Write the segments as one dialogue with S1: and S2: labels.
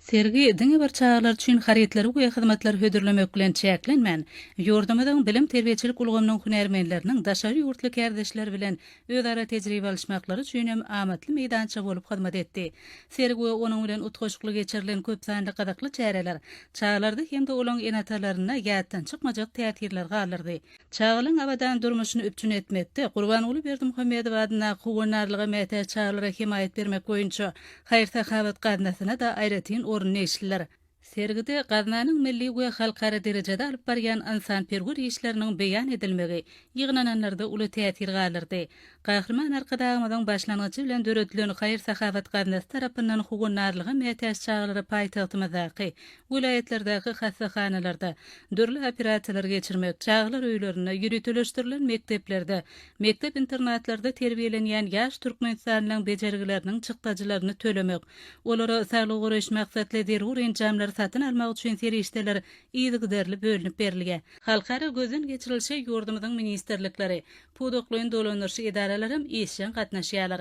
S1: Sergi diňe bir çagalar üçin harytlary we hyzmatlary hödürlemek bilen çäklenmän, ýurdumyzyň bilim-terbiýeçilik ulgamynyň hünärmenleriniň daşary ýurtly kärdeşleri bilen özara tejribe alyşmaklary üçin hem amatly meýdança bolup hyzmat etdi. Sergi we onuň bilen utgaşykly geçirilen köp sanly gyzykly çäreler çagalarda hem-de olaryň ene-atalarynda ýatdan çykmajak täsirler galdyrdy. Çagalaryň abadan durmuşyny üpjün etmekde Gurbanguly Berdimuhamedow adyndaky Howandarlyga mätäç çagalara hemaýat bermek boýunça haýyr-sahawat gaznasyna-da aýratyn orun degişlidir. Sergide gaznanyň milli we halkara derejede alyp barýan ynsanperwer işleriniň beýan edilmegi ýygnananlarda uly täsir galdyrdy. Gahryman Arkadagymyzyň başlangyjy bilen döredilen haýyr-sahawat gaznasy tarapyndan howandarlyga mätäç çagalara paýtagtymyzdaky, welaýatlardaky hassahanalarda, dürli operasiýalary geçirmek, çagalar öýlerinde, ýöriteleşdirilen mekdeplerde, mekdep-internatlarda terbiýelenýän ýaş türkmenistanlylaryň bejergileriniň çykdajylaryny tölemek, olara saglygy goraýyş maksatly zerur enjamlary satyn almak üçin serişdeler yzygiderli bölünip berilýär. Halkara gözden geçirilişe ýurdumyzyň ministrlikleri, Pudaklaýyn dolandyryş edaralaram işjeň gatnaşýarlar.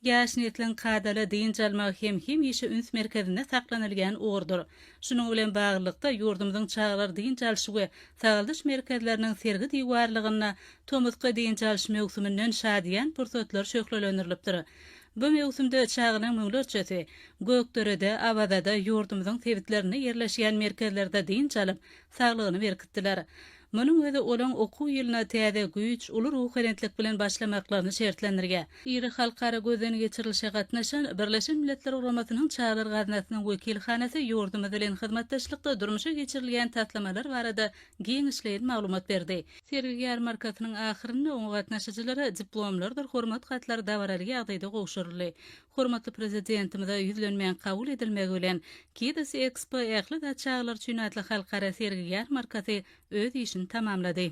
S1: Ýaş nesliň kadaly dynç almagy hem hemişe üns merkezinde saklanylýan ugurdyr. Şunuň bilen baglylykda, ýurdumyzyň çagalar dynç alyş we sagaldyş merkezleriniň sergi diwarlygynda tomusky dynç alyş möwsüminden şadyýan pursatlar şöhlelendirilipdir. Bu möwsümde çagalaň müňlerçesi Gökderede, Awazada, ýurdumyzyň sebitlerinde ýerleşýän merkezlerde dynç alyp, saglygyny berkitdiler. Munuň özi olaň okuw ýylyna täze güýç, uly ruhubelentlik bilen başlamaklaryny şertlendirýär. Iri halkara gözden geçirilişe gatnaşan Birleşen Milletler Guramasynyň Çaglar Gaznasynyň wekilhanasy ýurdumyz bilen hyzmatdaşlykda durmuşa geçirilýän taslamalar barada giňişleýin maglumat berdi. Sergi-ýarmarkasynyň ahyrynda oňa gatnaşyjylara diplomlardyr hormat hatlary dabaraly ýagdaýda gowşuryldy. Hormatly Prezidentimize ýüzlenmäň kabul edilmegi bilen, Kids Expo ähli zat çagalar üçin atly halkara sergi-ýarmarkasy öz işini tamamlady.